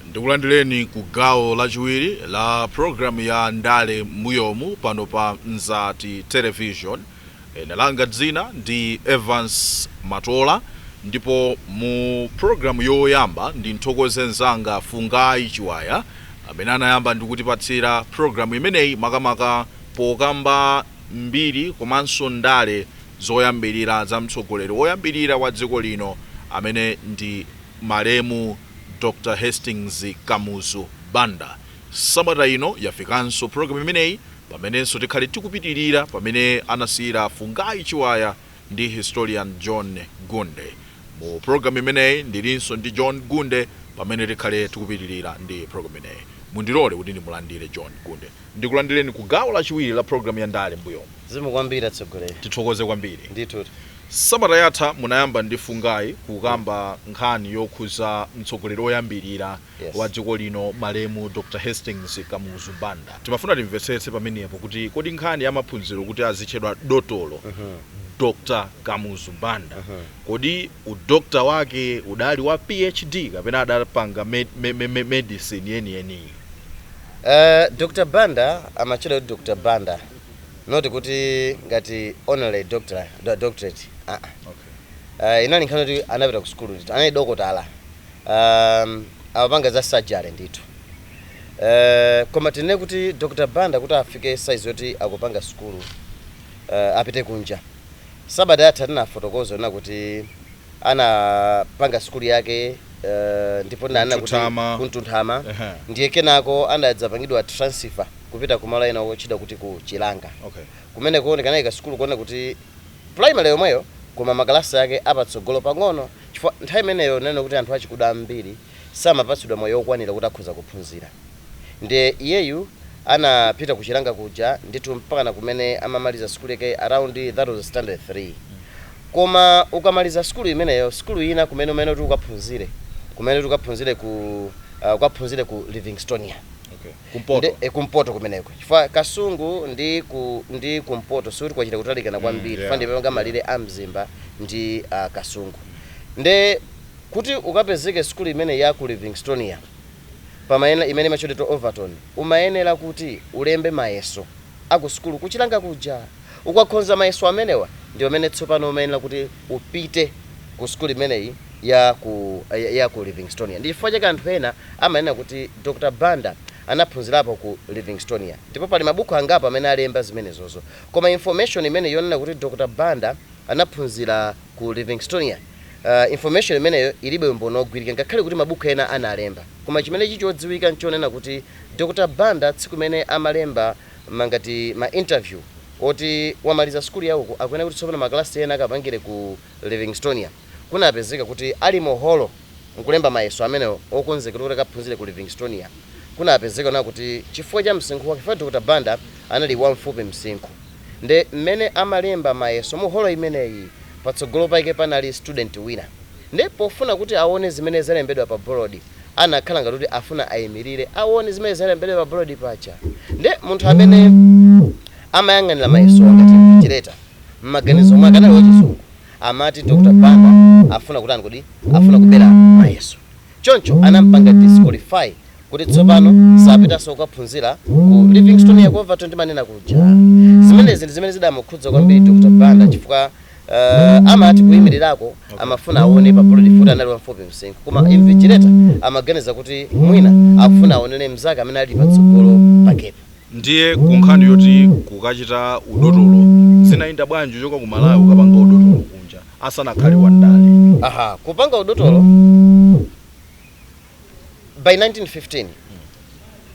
ndikulandireni ku gawo lachiwiri la programu ya ndale m'mbuyomu pano pa mzati television Ine langa dzina ndi Evance Matola ndipo mu program yoyamba ndimthokoze nzanga Fungai Chiwaya amene anayamba ndikutipatsira program imeneyi makamaka pokamba mbiri komanso ndale zoyambilira za mtsogoleri oyambilira wa dziko lino amene ndi malemu Dr Hastings Kamuzu Banda. Sabata ino yafikanso program imeneyi Pamenenso tikhale tikupitirira pamene anasiyira Fungai Chiwaya ndi Historian John Gunde. Mu program imeneyi ndilinso ndi John Gunde pamene tikhale tikupitirira ndi program imeneyi. Mundilole kuti ndimulandire John Gunde. Ndikulandireni ku gawo lachiwiri la program ya ndale m'mbuyomu. Zikomo kwambiri atsogoleri. Tithokoze kwambiri. Ndithudi. Sabata yatha munayamba ndi Fungai kukamba nkhani yokhuza mtsogoleri oyambilira. wa dziko lino malemu Dr Hastings Kamuzu Banda. Timafuna timvetsetse pamenepo kuti kodi nkhani ya maphunziro kuti azitchedwa dotolo Dr Kamuzu Banda kodi u doctor wake udali wa PhD kapena adapanga med, me, me, me, medicine yeniyeni? Uh, Dr. Banda amatchedwa kuti Dr. Banda not kuti ngati honorary doctor do- doctorate ah ah. Okay. uh, inali nkhani kuti anapita ku sukulu ndithu anali dokotala Aaa amapanga za surgery ndithu eeh koma tinene kuti Dr Banda kuti afike size yoti akupanga sukulu eeh apite kunja sabata yatha tinafotokoza kunena kuti anapanga sukulu yake eeh ndipo tinanena kuti ku Mtunthama. Ku Mtunthama Ehe. ndiye kenako anadzapangidwa transfer kupita ku malo ena otchedwa kuti ku Chilanga Okay. kumeneko ndikumene anaika sukulu konena kuti primary yomweyo koma ma class ake apatsogolo pang'ono Chifukwa nthawi imeneyo tinanena kuti anthu achikuda ambiri samapatsidwa mwayi wokwanira kuti akhoza kuphunzira. Ndiye iyeyu anapita ku Chilanga kuja ndithu mpakana kumene amamaliza sukulu yake around that was standard 3. Koma ukamaliza sukulu imeneyo sukulu ina kumene umene kuti ukaphunzire kumene kuti ukaphunzire ku uh, ukaphunzire ku Livingstonia. Kumpoto. Ndi- eh, kumpoto kumeneko chifukwa kasungu ndi ku ndi kumpoto sikuti kwachita kutalikana kwambiri yeah, chifukwa ndi pemapanga yeah. malire a mzimba ndi ah, kasungu nde kuti ukapezeke sukulu imene ya ku livingstonia pamayenera imene imatchedwa overton umayenera kuti ulembe mayeso a ku sukulu kuchilanga kuja. Ukakhonza mayeso amenewa ndi pamene tsopano umayenera kuti upite ku sukulu imeneyi ya ku, ya, ya ku Livingstonia. Ndi chifukwa chake anthu ena amanena kuti Dr. Banda anaphunzirapo ku Livingstonia. Ndipo pali mabuku angapo amene alemba zimenezozo. Koma information imeneyo yonena kuti Dr. Banda anaphunzira. ku Livingstonia. Information imeneyo ilibe umboni ogwirika ngakhale kuti mabuku ena analemba. Koma chimene chichodziwika nchonena kuti Dr Banda tsiku imene amalemba mangati ma interview oti wamaliza sukulu ya uku akuyenera kuti tsopano ma class ena akapangire ku Livingstonia kunapezeka kuti ali mu holo nkulemba mayeso amenewo okonzekera kuti akaphunzire ku Livingstonia kunapezeka kunena kuti chifukwa cha msinkhu wake chifukwa Dr Banda anali wamfupi msinkhu. nde mmene amalemba mayeso mu holo imeneyi patsogolo pake panali student wina nde pofuna kuti awone zimene zalembedwa pa bolodi anakhala ngati kuti afuna ayimilire awone zimene zalembedwa pa bolodi paja nde munthu amene amayang'anira mayesowa ngati invigilator mmaganizo mwake anali wachizungu amati Dr Banda afuna kutani kodi afuna kubera mayeso Choncho anampanga disqualify kuti tsopano sapitanso kukaphunzira ku Livingstonia ku Overton timanena kuja. Zimenezi ndi zimene zidamukhudza kwambiri Dr Banda chifukwa uh amati kuimirirako amafuna awone pa bolodi poti anali wamfupi msinkhu koma invigilator amaganiza kuti mwina akufuna awonere mzake amene ali patsogolo pakepo. Ndiye ku nkhani yoti kukachita udotolo zinayenda bwanji kuchoka ku Malawi kukapanga udotolo kunja asanakhale wa ndale? Aha, kupanga udotolo by 1915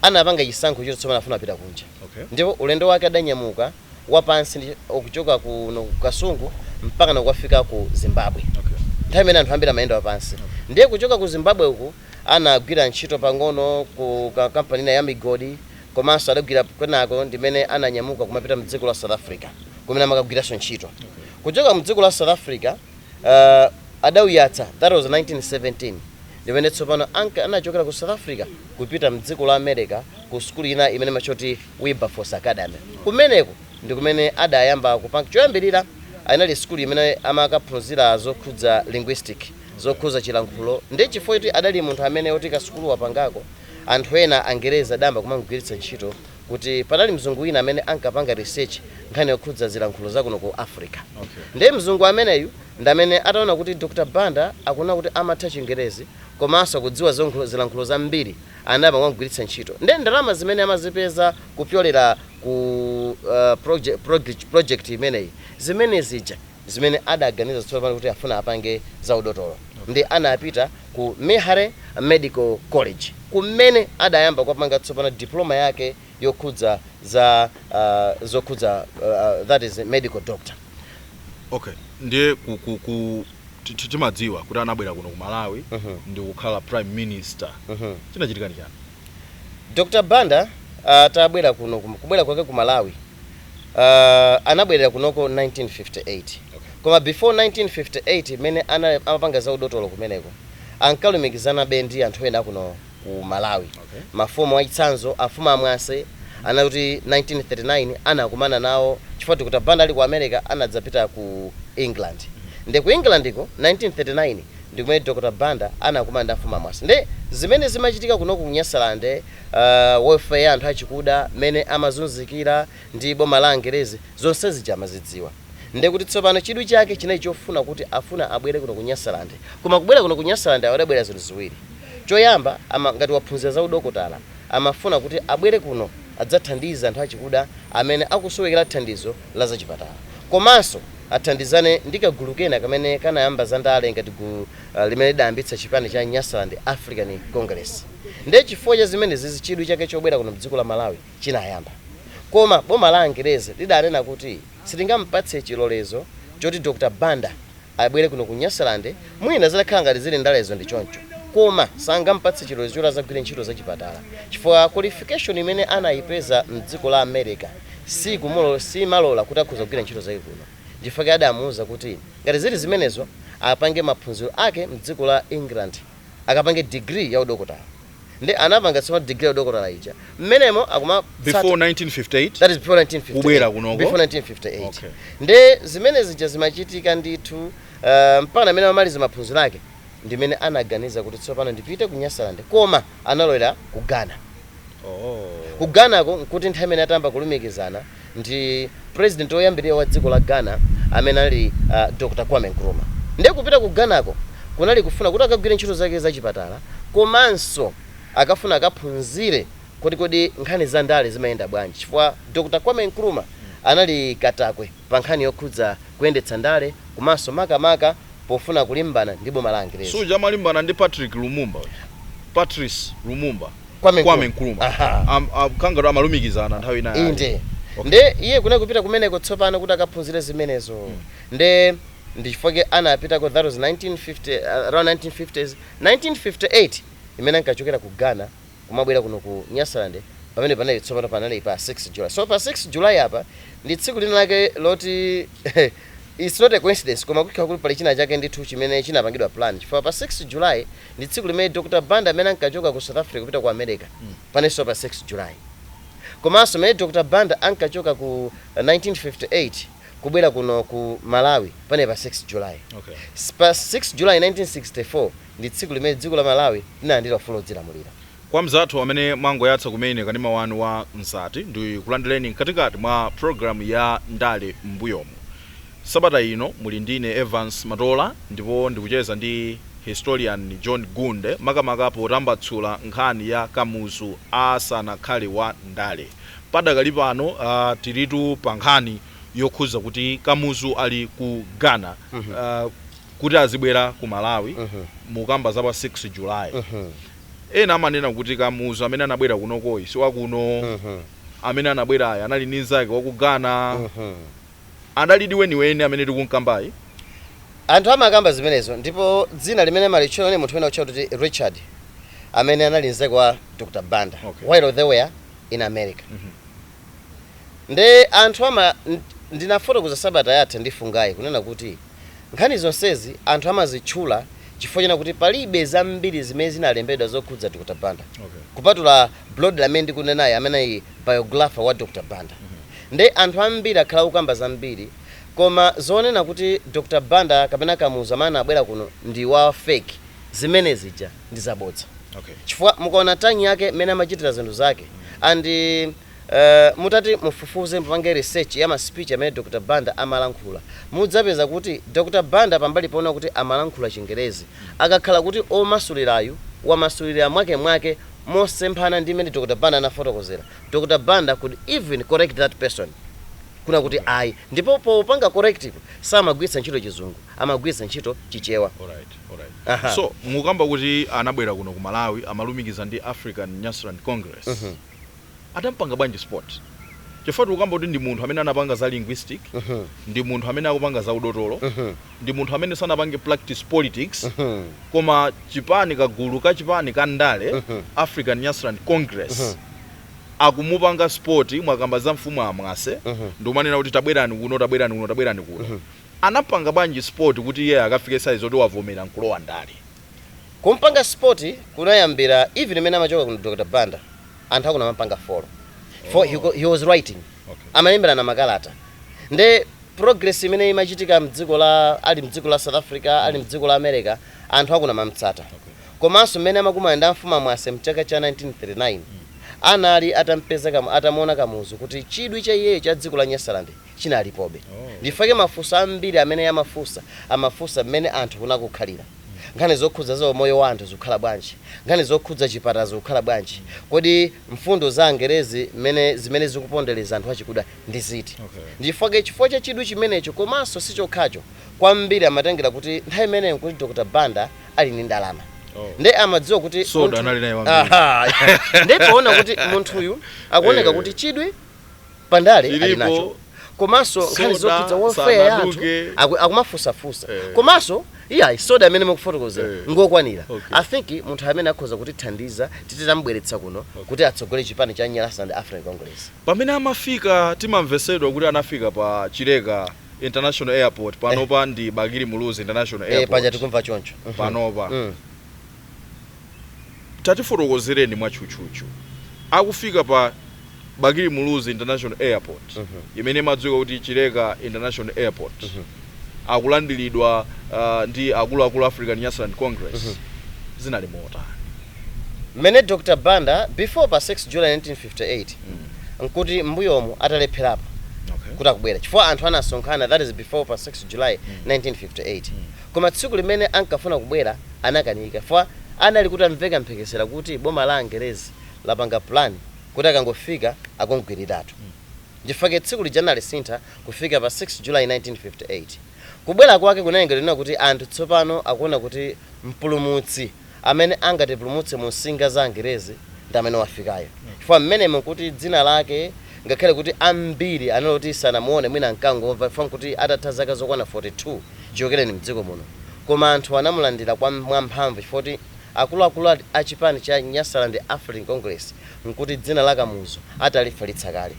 anapanga chisankho choti tsopano afuna kupita kunja Okay. ndipo ulendo wake adanyamuka wapansi ndi kuchoka kuno ku Kasungu mpakana kukafika ku Zimbabwe Okay. nthawi imene anthu ambiri amayenda wapansi ndiye kuchoka ku Zimbabwe uku anagwira ntchito pang'ono ku ka- kampani ina ya migodi komanso adagwira kwinako ndimene ananyamuka kumapita mdziko la South Africa kumene amakagwiranso ntchito kuchoka mdziko la South Africa uh, adauyatsa that was 1917 ndimene tsopano anka anachokera ku South Africa kupita mdziko la America ku sukulu ina imene amatcha kuti Wilberforce Academy kumeneko ndikumene adayamba kupanga choyambirira anali sukulu imene amakaphunzira zokhudza linguistic zokhuza chilankhulo nde chifukwa choti adali munthu amene oti kasukulu wapangako Anthu ena angerezi adayamba kumamugwiritsa ntchito kuti panali mzungu wina amene ankapanga research nkhani yokhudza zilankhulo zakuno ku Africa nde mzungu ameneyu ndamene ataona kuti Dr Banda akunena kuti amatha chingerezi komanso akudziwa zonkhul zilankhulo zambiri anayamba kumamugwiritsa ntchito nde ndalama zimene amazipeza kupyolera ku uh, proje project project imeneyi ndi zimene zija zimene adaganiza tsopano kuti afuna apange za udotolo nde anapita ku Meharry Medical College kumene adayamba kukapanga tsopano diploma yake yokhudza za zokhudza that is medical doctor. Okay, ndiye ku ku ku timadziwa kuti anabwera kuno ku Malawi ndikukhala prime minister chinachitika ndi chani? Dr Banda atabwera kunoko kubwera kwake ku Malawi. Uh, anabwerera kunoko 1958 koma before 1958 mmene ana- amapanga za udotolo kumeneko ankalumikizanabe ndi anthu ena kuno ku malawi Okay. mafumu achitsanzo afumu amwase ananena kuti 1939 anakumana nawo chifukwa Dr Banda ali ku america anadzapita ku england nde ku englandiko 1939 ndikumene dr banda anakumana ndi afumu amwase nde zimene zimachitika kuno ku nyasalande welfare ya anthu achikuda, mmene amazunzikira ndi boma la Angerezi, zonse zija amazidziwa. Ndiye kuti tsopano chidwi chake chinali chofuna kuti afuna abwere kuno ku Nyasaland. Koma kubwera kuno ku Nyasaland awo adabwera zinthu ziwiri. Choyamba, ama, ngati waphunzira za udokotala, amafuna kuti abwere kuno adzathandize anthu achikuda amene akusowekera thandizo la zachipatala. Komanso athandizane ndi kagulu kena kamene kanayamba zandale ngati gulu limene lidayambitsa chipani cha Nyasaland African Congress. Ndiye chifukwa cha zimenezizi chidwi chake chobwera kuno m'dziko la Malawi chinayamba. Koma boma la Angerezi lidanena kuti silingamupatse chilolezo choti Dr Banda abwere kuno ku Nyasaland, mwina zitakhala ngati zili ndalezo ndi choncho, koma sangamupatse chilolezo choti azagwire ntchito za chipatala chifukwa qualification imene anayipeza m'dziko la America siyimalora kuti akhoza kugwira ntchito zake kuno. Ndichifukwa chake adamuuza kuti ngati zili zimenezo apange maphunziro ake m'dziko la England. akapange degree ya udokotala nde anapanga tsopano degree ya udokotala ija mmenemo akuma- before 1958 that is before 1958 kubwera kunoko before 1958 okay nde zimene zija zimachitika ndithu uh, mpaka mmene amamaliza maphunziro ake ndimene anaganiza kuti tsopano ndipite ku nyasalande koma analowera ku ghana oh. ku ghanako nkuti nthawi imene atayamba kulumikizana ndi president woyambirira wa dziko la Ghana amene anali a Dr Kwame Nkrumah nde kupita ku Ghana ko kunali kufuna kuti akagwire ntchito zake za chipatala komanso akafuna akaphunzire kuti kodi nkhani za ndale zimayenda bwanji chifukwa Dr Kwame Nkrumah anali katakwe pa nkhani yokhudza kuyendetsa ndale komanso makamaka pofuna kulimbana ndi boma la angerezi. Si uja amalimbana ndi Patrick Lumumba uja, Patrice Lumumba. Kwame Kwame Nkrumah. Nkrumah. Aha. Am- a- Kangapo amalumikizana nthawi ina yake. inde Okay. nde iye kunali kupita kumeneko tsopano kuti akaphunzire zimenezo nde ndi chifukwa chake anapitako that was 1950 uh, around 1950s 1958 imene ankachokera ku ghana kumabwera kuno ku nyasaland pamene panali tsopano panali pa 6 july so pa 6 july apa ndi tsiku lina lake loti Its not a coincidence koma kukhala kuti pali china chake ndithu chimene chinapangidwa plan chifukwa pa 6 July ndi tsiku limene Dr Banda amene ankachoka ku South Africa kupita ku America panenso pa 6 July komanso pamene Dr Banda ankachoka ku 1958 kubwera kuno ku Malawi panali pa 6 July Okay. pa 6 July 1964 ndi tsiku limene dziko la Malawi linalandira ufulu wodzilamulira. Kwa anzathu amene mwangoyatsa kumene kanema wanu wa Mzati ndikulandileni mkatikati mwa program ya ndale m'mbuyomu. Sabata ino muli ndine Evans Matola ndipo ndikucheza ndi Historian John Gunde makamaka potambatsula nkhani ya Kamuzu asanakhale wa ndale. Padakali pano tilitu pa nkhani yokhuza kuti Kamuzu ali ku Ghana kuti azibwera ku Malawi mukamba za pa 6 July. Ena amanena kuti Kamuzu amene anabwera kunokoyi si wa kuno. Amene anabwerayi anali mnzake wa ku Ghana. Adalidi weniweni amene tikum'kambayi? Anthu amakamba zimenezo, ndipo dzina limene amalitchula linali munthu wina wotchedwa kuti Richard, amene anali mnzake wa Dr. Banda Okay. while they were in America. Ndiye anthu ama, nd, ndinafotokoza sabata yatha ndithu ngati kunena kuti, Nkhani zonsezi anthu amazitchula chifukwa chonena kuti palibe zambiri zimene zinalembedwa zokhuza Dr Banda kupatula Brody amene ndikunenayi amene anali biographer wa Dr Banda. Nde anthu ambiri akhala akukamba zambiri koma zonena kuti Dr Banda kapena Kamuzu amene anabwera kuno ndi wa fake zimene zija ndi zabodza chifukwa mukaona tanyake mmene amachitira zinthu zake and Eeeh mutati mufufuze mupange research ya ma speech amene Dr Banda amalankhula mudzapeza kuti Dr Banda pambali ponena kuti amalankhula chingerezi akakhala kuti omasulirayu wamasulira mwake mwake mosemphana ndi mmene Dr Banda anafotokozera Dr Banda could even correct that person kunena kuti ayi ndipo popanga correctipo samagwiritsa ntchito chizungu amagwiritsa ntchito chichewa Alright, alright. Aha. So, mukukamba kuti anabwera kuno ku Malawi, amalumikiza ndi African Nyasaland Congress. Adampanga bwanji spot? Chifukwa tikukamba kuti ndi munthu amene anapanga za linguistic, ndi munthu amene akupanga za udotolo, ndi munthu amene sanapange practice politics, koma chipani, kagulu ka chipani ka ndale, African Nyasaland Congress, akumupanga spot, mwakamba za mfumu a Mwase, ndikumanena kuti tabwerani kuno, tabwerani kuno, tabwerani kuno. Anampanga bwanji spot kuti iyeyo akafike size yoti wavomera nkulowa ndale? kumpanga spot kunayambira even imene amachoka kuno Dr Banda anthu akuno amapanga follow cause he, he was writing okay. amalemberana makalata nde progress imene imachitika mdziko la ali mdziko la South Africa mm. ali mdziko la America anthu akuno amamtsata okay. komanso mmene amakumana ndi amfumu a Mwase mchaka cha 1939 mm. anali atampeza kama atamuona Kamuzu kuti chidwi cha iyeyo cha dziko la Nyasaland chinalipobe. Ndichifukwa chake mafunso ambiri amene iye amafunsa amafunsa mmene anthu kunako akukhalira, nkhani zokhudza za umoyo wa anthu zikukhala bwanji, nkhani zokhudza chipatala zikukhala bwanji, kodi mfundo za angerezi mmene zimene zikupondeleza anthu achikuda ndi ziti. Ndichifukwa chake chifukwa cha chidwi chimenecho komanso sichokhacho kwambiri amatengera kuti nthawi imeneyo nkuti Dr. Banda ali ndi ndalama nde amadziwa kuti Soda munthu anali naye wambiri. Aha, nde poona kuti munthuyu akuoneka kuti chidwi pandale ali Chilipo, nacho komanso nkhani soda zokhudza welfare ya anthu sanaduke. aku- akumafunsafunsa Eh. komanso iyayi soda amene mukufotokozera Eh. ngokwanira Okay. i think munthu amene akhoza kutithandiza titamubweretsa kuno kuti atsogole chipani cha nyasaland african congress pamene amafika timamvesedwa kuti anafika pa chileka international airport panopa ndi bakili muluzi international eh, paja airport tikumva choncho Mhm. panopa Mm. tatifotokozereni mwatchutchutchu akufika pa Bakili Muluzi International Airport imene imadziwika kuti Chileka International Airport akulandilidwa ndi akuluakulu a African Nyasaland Congress zinali motani? Mmene Dr Banda before pa 6 July 1958 nkuti mmbuyomu atalepherapo Okay. kuti akubwera chifukwa anthu anasonkhana that is before pa 6 July 1958 koma tsiku limene ankafuna kubwera anakanika chifukwa anali kuti amveka mphekesera kuti boma la angerezi lapanga plan kuti akangofika akamugwiriretu nchifukwa chake tsiku lija analisintha kufika pa 6 july 1958. Kubwera kwake kunalengedwa kunena kuti anthu tsopano akuona kuti mpulumutsi amene angatipulumutse mu msinga za angerezi ndi amene wafikayo chifukwa mmenemo nkuti dzina lake Ngakhale kuti ambiri anali oti sanamuone mwina ankangomva chifukwa nkuti atatha zaka zokwana 42 chichokereni m'dziko muno, koma anthu anamulandira kwa mwamphamvu chifukwa choti akuluakulu a a chipani cha Nyasaland African Congress nkuti dzina la Kamuzu atalifalitsa kale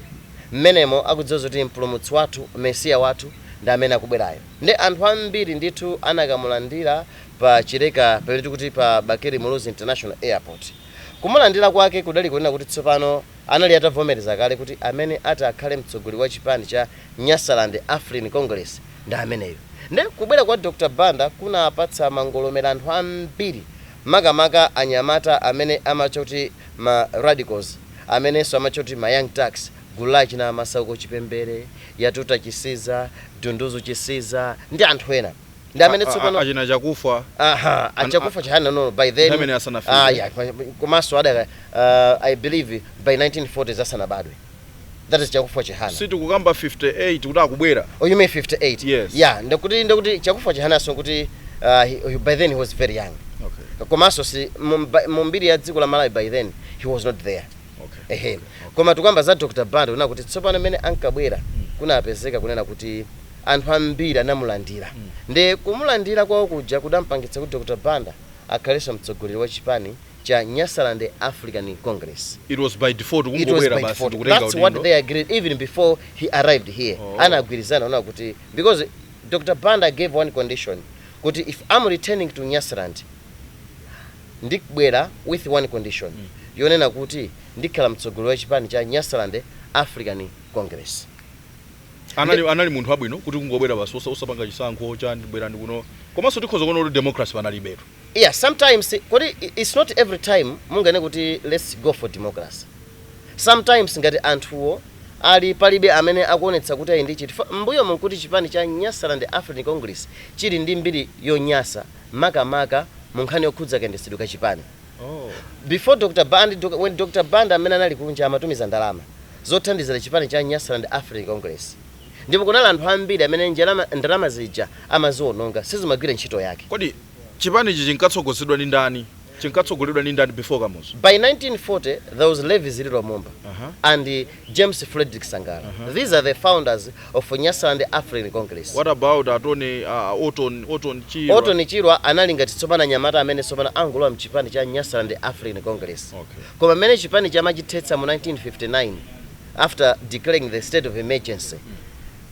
m'menemo akudziwa zoti mpulumutsi wathu, mesiya wathu ndi amene akubwerayo. Nde anthu ambiri ndithu anakamulandira pa Chileka pamene tikuti pa Bakili Muluzi International Airport. Kumulandira kwake kudali kunena kuti tsopano. anali atavomereza kale kuti amene ati akhale mtsogoleri wa chipani cha Nyasaland African Congress ndi ameneyo. Nde kubwera kwa Dr Banda kunapatsa mangolomera anthu ambiri makamaka anyamata amene amatcha kuti ma Radicals amenenso amatcha kuti ma Young Turks gulu la achina Masauko Chipembere, Yatuta Chisiza, Dunduzu Chisiza ndi anthu ena. ndi amene A- a- tsopano achina chakufa aha An- a chakufa chihana no no, by then Nthawi imene asanafike. ah yeah kwa- komanso adaka uh, i believe by 1940s asanabadwe that is chakufa chihana sitikukamba 58 kuti akubwera oh you mean 58 Yes. yeah ndati kuti ndati kuti chakufa chihana so kuti uh, he, he- by then he was very young okay. komanso si mu- mba- mu mbiri ya dziko la malawi by then he was not there Okay. ehe koma tikukamba za dr banda kunena kuti tsopano mmene ankabwera kunapezeka kunena kuti Anthu ambiri anamulandira. Ndiye kumulandira kwawo kuja kudampangitsa kuti Dr Banda akhalenso mtsogoleri wa chipani cha Nyasaland African Congress. It was by default, It was kungobwera by basi default. ndikutenga That's what udindo. they agreed even before he arrived here. Oh. Anagwirizana kunena kuti because Dr Banda gave one condition kuti if I'm returning to Nyasaland ndibwera with one condition yonena kuti ndikhala mtsogoleri wa chipani cha Nyasaland African Congress. anali anali munthu wabwino kuti kungobwera basi osa- osapanga chisankho chani bwerani kuno komanso tikhoza kuona kuti democracy panalibetu yeah sometimes kodi i- it's not every time mungane kuti let's go for democracy sometimes ngati anthuwo ali palibe amene akuonetsa kuti ayi ndi chiti Fa- m'mbuyomu nkuti chipani cha nyasaland african congress chili ndi mbiri yonyasa makamaka mu nkhani yokhudza kayendetsedwe ka chipani Before Dr Banda, Dr when Dr Banda mmene anali kunja amatumiza ndalama zothandizira chipani cha Nyasaland African Congress ndipo kunali anthu ambiri amene njalama, ndalama zija amaziononga sizimagwira ntchito yake. Kodi chipanichi chinkatsogozedwa ndi ndani? Chinkatsogoleredwa ndi ndani before Kamuzu? By 1940 there was Levi Zililo Mumba and James Fredrick Sangala These are the founders of Nyasaland African Congress. What about atone uh, Orton, Orton Chirwa? Orton Chirwa anali ngati tsopano anyamata amene tsopano angolowa mchipani cha Nyasaland African Congress. Okay. Koma mmene chipani amachithetsa mu 1959 after declaring the state of emergency.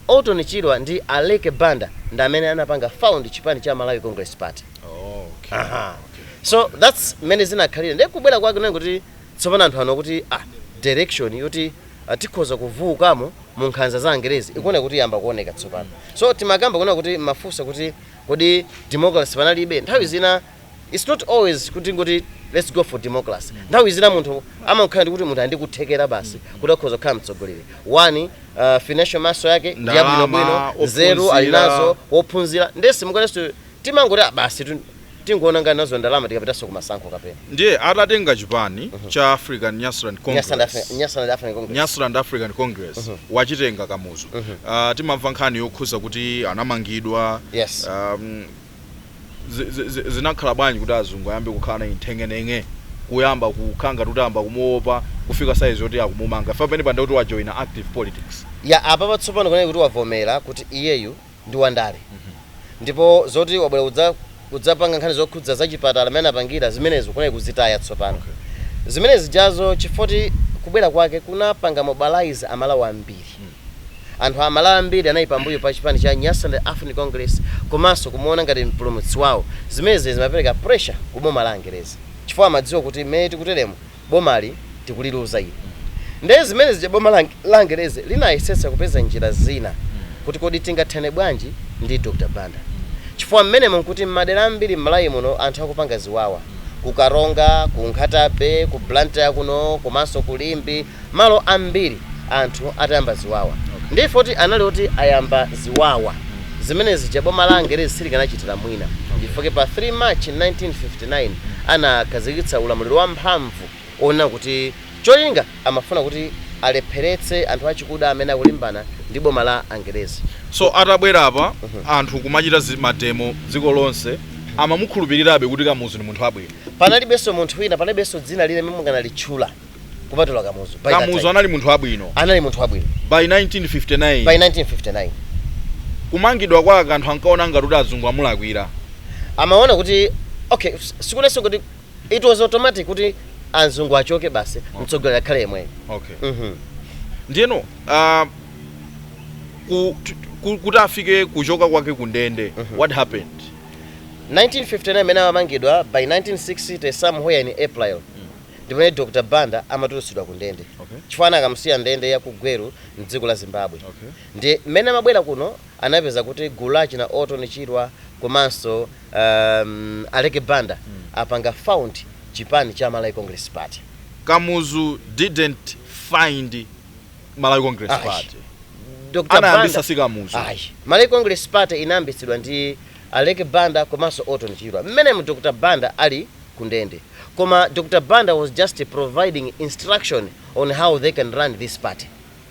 Orton Chirwa ndi Aleke Banda ndi amene anapanga found chipani cha Malawi Congress Party. Oh, okay. Aha. So that's mmene zinakhalira. Ndiye kubwera kwake kunali kuti Tsopano anthu anaona kuti a, direction yoti a tikhoza kuvuukamo mu nkhanza za Angerezi ikuoneka kuti yayamba kuoneka tsopano. So timakamba kunena kuti mmafunsa kuti kodi democracy panalibe? Nthawi zina it's not always kuti tingoti let's go for democracy. Nthawi zina munthu amangokhala ndi kuti munthu ali ndi kuthekera basi kuti akhoza kukhala mtsogoleri. One, a, financial muscle yake ndi yabwinobwino, Ndalama, nzeru ali ophunzira. nazo, wophunzira, ndiye simunganenso. Timangoti ah basitu tingoononga nazo ndalama tikapitanso kumasankho kapena. Ndiye atatenga chipani cha African Nyasaland Congress, Nyasaland African Congress, Nyasaland African Congress mm -hmm. wachitenga Kamuzu mm -hmm. uh, timamva nkhani yokhuza kuti anamangidwa yes. um, zinakhala bwanji kuti azungu ayambe kukhala naye nthenganenga kuyamba kukhala ngati ayamba kumuopa kufika size yoti akumumanga fa pamene panda kuti wajoina active politics ya apa patsopano kunena kuti wavomera kuti iyeyu ndi wandale ndipo zoti wabwera kudzapanga nkhani zokhudza zachipatala mmene anapangira zimenezo kunali kuzitaya tsopano zimenezi zijazo chifoti kubwera kwake kunapanga mobilize amalawi ambiri anthu amalawi ambiri anali pambuyo pa chipani cha nyasaland african congress komanso kumuona ngati mpulumutsi wawo zimenezi zimapereka pressure ku boma la angerezi chifukwa amadziwa kuti mmene tikuteremo bomali tikuliluza ili. Nde zimene zija boma la Angerezi linayesetsa kupeza njira zina kuti kodi tingathane bwanji ndi Dr Banda chifukwa mmenemo nkuti mmadera ambiri mMalawi muno anthu akupanga ziwawa, ku Karonga, ku Nkhata-bay, ku Blantyre kuno komanso ku Limbe malo ambiri anthu atayamba ziwawa. Nde effect anali oti ayamba ziwawa. Zimene zija boma la Angerezi silikanachitira mwina chifukwa pa 3 March 1959 anakhazikitsa ulamuliro wamphamvu wonena kuti cholinga amafuna kuti alepheretse anthu achikuda amene akulimbana ndi boma la Angerezi. So atabwera apa anthu kumachita mademo dziko lonse amamukhulupirirabe kuti Kamuzu ndi munthu wabwino? Panalibenso munthu wina, panalibenso dzina lina limene mukanalitchula. kupatula kamuzu By that time. kamuzu anali munthu wabwino anali munthu wabwino by 1959 by 1959 kumangidwa kwake anthu ankaona ngati kuti azungu amulakwira amaona kuti okay s- sikunalinso kuti it was automatic kuti azungu achoke basi mtsogoleri akhale yemweyo okay Mhm. ndiyeno ah, ku- tu- ku- kuti afike kuchoka kwake ku ndende what happened 1959 mmene amamangidwa by 1960 somewhere in april ndi pamene Dr Banda amatulutsidwa ku ndende Okay. chifukwa anakamusiya ndende ya ku Gweru m'dziko la Zimbabwe Okay. ndiye mmene amabwera kuno anapeza kuti gulu la achina Orton Chirwa komanso um, Aleke Banda apanga found chipani cha Malawi Congress Party Kamuzu didn't find Malawi Congress Party. Ayi. Dr. Banda- Anayambitsa si Kamuzu. Ayi. Malawi Congress Party inayambitsidwa ndi Aleke Banda komanso Orton Chirwa. Mmenemo Dr. Banda ali kundende. Koma Dr Banda was just providing instruction on how they can run this party.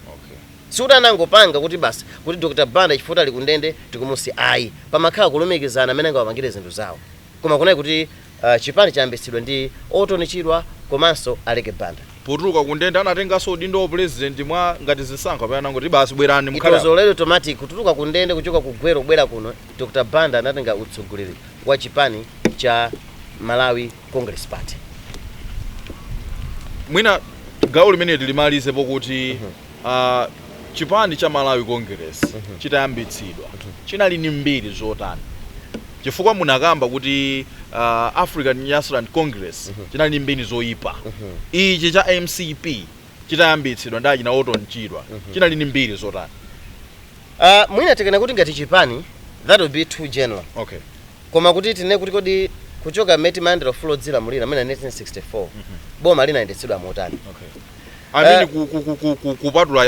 Okay. Sikuti anangopanga kuti basi kuti Dr Banda chifukwa kuti ali ku ndende tikumusiya ayi. Pamakhala kulumikizana mmene angawapangire zinthu zawo. Koma kunali kuti uh, chipani chayambitsidwa ndi Orton Chirwa komanso Aleke Banda. Potuluka ku ndende anatenganso udindo wa president mwa ngati zisankho kapena anangoti basi bwerani mukhale apa. It was already automatic kutuluka ku ndende kuchoka ku Gweru kubwera kuno Dr Banda anatenga utsogoleri wa chipani cha Malawi Congress Party. Mwina gawo limeneli timalize pokuti uh -huh. uh, chipani cha Malawi Congress uh -huh. chitayambitsidwa uh -huh. chinali ni mbiri zotani chifukwa munakamba kuti uh, African Nyasaland Congress uh -huh. chinali ni mbiri zoyipa uh -huh. ichi cha MCP chitayambitsidwa ndi achina Orton Chirwa uh -huh. chinali ni mbiri zotani Uh, mwina tikanena kuti ngati chipani that would be too general okay. koma kuti tinene kuti kodi kuchoka mmene timalandira ufulu wodzilamulira mwina 1964 mm -hmm. boma linayendetsedwa motani okay. I mean, uh, kupatula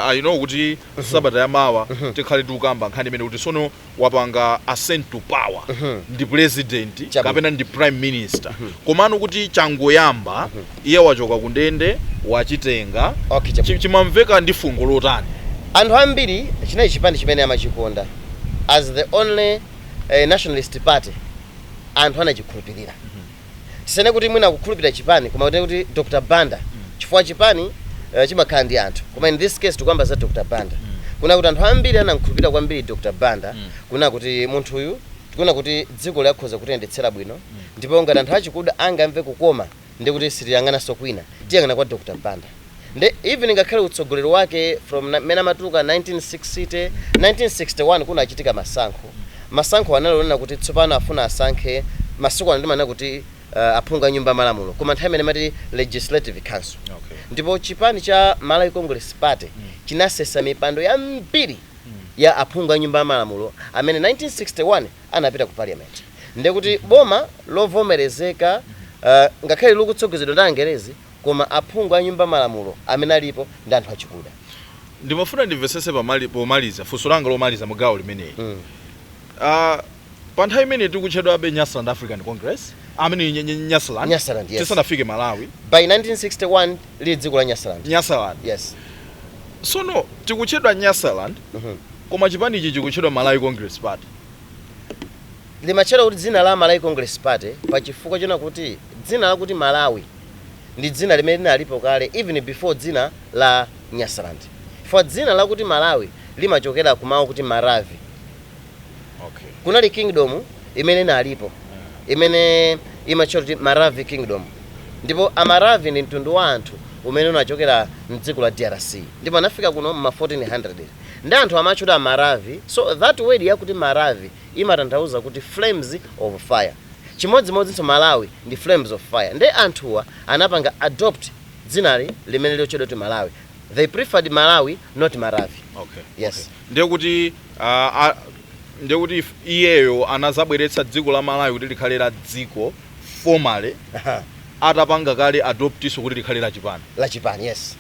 I know kuti mhm. sabata ya mawa mhm. tikhala tikukamba nkhani imene kuti sono wapanga ascent to power mhm. ndi president kapena ndi prime minister komano kuti changoyamba Iye wachoka kundende wachitenga. Chimamveka ndi fungo lotani? Anthu ambiri chinali chipani chimene amachikonda as the only nationalist party anthu anachikhulupilira tisanene kuti mwina kukhulupilira chipani koma tinene kuti Dr Banda chifukwa chipani chimakhala ndi anthu koma in this case tikukamba za Dr Banda kunena kuti anthu ambiri anamkhulupilira kwambiri Dr Banda kunena kuti munthuyu tikuona kuti dzikoli akhoza kutiyendetsera bwino ndipo ngati anthu achikuda angamve kukoma ndiye kuti sitiyang'ananso kwina tiyang'ana kwa Dr Banda nde even ngakhale utsogoleri wake from na- mmene amatuluka 1960 1961 kunachitika masankho masankho anali onena kuti tsopano afuna asankhe masiku ano timanena kuti uh, aphungu a nyumba ya malamulo koma nthawi imeneyo amati legislative council Okay. ndipo chipani cha malawi congress party chinasesa mipando yambiri ya aphungu a nyumba ya malamulo amene 1961 anapita ku parliament ndiye kuti boma lovomerezeka uh, ngakhale likutsogozedwa ndi angerezi koma aphungu a nyumba malamulo amene alipo ndi anthu achikuda ndimafuna ndimvetsetse pomaliza funso langa lomaliza mu gawo limeneli mm. uh, ah, pa nthawi imene tikutchedwabe nyasaland african congress I mean nyasaland nyasaland yes. tisanafike malawi by 1961 lili dziko la nyasaland nyasaland yes sono tikutchedwa nyasaland mm -hmm. koma chipani ichi chikutchedwa malawi congress party limatchedwa kuti dzina la Malawi Congress Party pa chifukwa chonena kuti dzina lakuti Malawi ndi dzina limene linalipo kale even before dzina la Nyasaland chifukwa dzina lakuti Malawi limachokera ku mau akuti Maravi okay. kunali kingdom imene inalipo imene imatchedwa kuti Maravi Kingdom ndipo Amaravi ndi mtundu wa anthu umene unachokera mdziko la DRC ndipo anafika kuno mma 1400 Nde anthu amatchedwa Maravi so that word yakuti Maravi imatanthauza kuti flames of fire chimodzimodzinso Malawi ndi flames of fire nde anthuwa anapanga adopt dzinali limene likutchedwa kuti Malawi they preferred Malawi not Maravi Okay, Yes. okay. Ndiye kuti ah, ah, ndiye kuti if- iyeyo anazabweretsa dziko la Malawi kuti likhale la dziko formally atapanga kale adoptnso kuti likhale la chipani. lachipani yes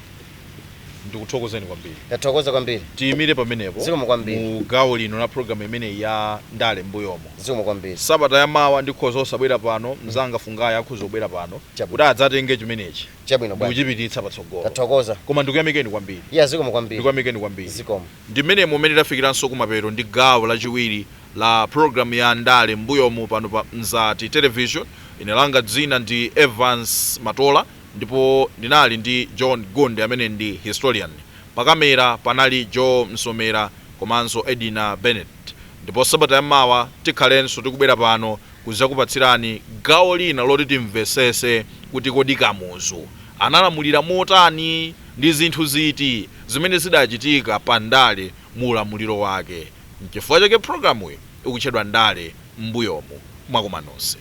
ndikuthokozeni kwambiri ndathokoza kwambiri tiyimire pamenepo Zikomo kwambiri. mu gawo lino la programu imeneyi ya ndale m'mbuyomu zikomo kwambiri sabata ya mawa ndikhoza osabwera pano mzanga fungayi akhoza kubwera pano Chabwino. kuti adzatenge chimenechi chabwino bwana kuchipititsa patsogolo ndathokoza koma ndikuyamikeni kwambiri ya zikomo kwambiri ndikuyamikeni kwambiri zikomo ndi mmenemo umene tafikiranso kumapeto ndi gawo lachiwiri la programu ya ndale m'mbuyomu pano pa mzati television ine langa dzina ndi evans matola Ndipo ndinali ndi John Gundy amene ndi historian, pa kamera panali Joe Msomera komanso Edina Bennett. Ndipo sabata ya mawa tikhalenso tikubwera pano kuzakupatsirani gawo lina loti timvesese kuti kodi Kamuzu analamulira motani, ndi zinthu ziti zimene zidachitika pa ndale mu ulamuliro wake. Nchifukwa chake programuyi ikutchedwa Ndale M'mbuyomu. Mwakoma nonse.